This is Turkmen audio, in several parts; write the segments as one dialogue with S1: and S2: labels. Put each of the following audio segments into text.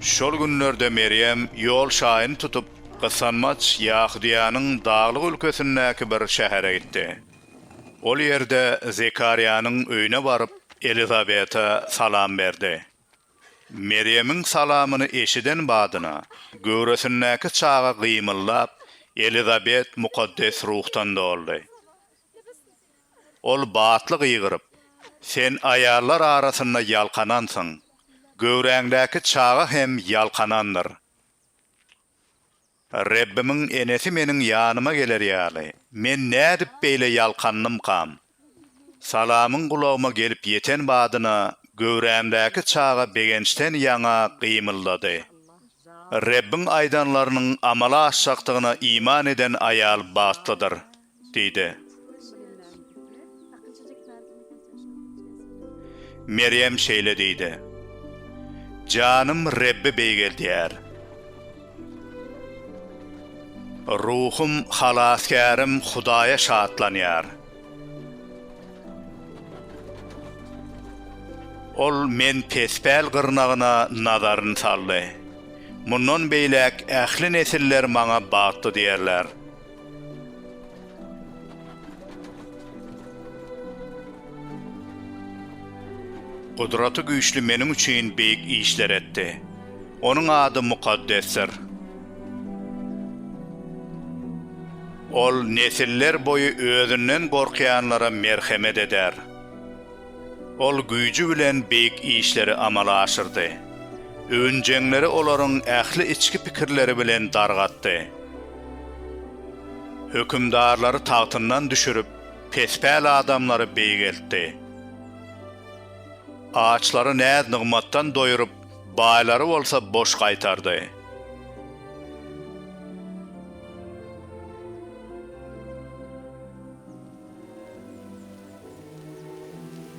S1: Şol günlerde Merýem ýol şaýyny tutup, gysanmaç Ýahudyýanyň daglyk ülkesindäki bir şähere gitdi. Ol ýerde Zekarýanyň öýüne baryp, Elizabete salam berdi. Merýemiň salamyny eşiden badyna, göwresindäki çaga gymyldap, Elizabet mukaddes ruhdan doldy. Ol batly gygyryp, Sen aýallar arasynda ýalkanansyň, göwräňdäki çaga hem ýalkanandyr. Rebbimiň enesi meniň ýanyma geler ýaly, men nädip beýle ýalkandymkam? Salamyň gulagyma gelip ýeten badyna, göwrämdäki çaga begençden ýaňa gymyldady. Rebbiň aýdanlarynyň amala aşjakdygyna iman eden aýal bagtlydyr. Diýdi. Merýem şeýle diýdi. Janym Rebbi beýgeldýär. Ruhum Halasgärim Hudaýa şatlanýar. Ol men pespäl gyrnagyna nazaryny saldy. Mundan beýläk ähli nesiller maňa bagtly diýerler. Gudraty Güýçli meniň üçin beýik işler etdi. Onuň ady mukaddesdir. Ol nesillerboýy özünden gorkýanlara merhemet eder. Ol güýji bilen beýik işleri amala aşyrdy. Öwünjeňleri olaryň ähli içki pikirleri bilen dargatdy. Hökümdarlary tagtyndan düşürip, pespäl adamlary beýgeltdi. Açlary näz-nygmatdan doýuryp, baýlary bolsa boş gaýtardy.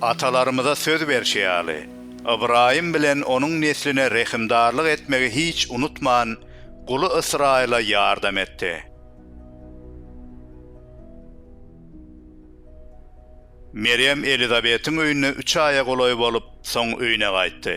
S1: Atalarymyza söz berşi ýaly, Ybraýym bilen onuň nesline rehimdarlyk etmegi hiç unutman, guly Ysraýyla ýardam etdi. Merýem Elizabetiň öýünde üç aýa golaý bolup, soň öýüne gaýtdy.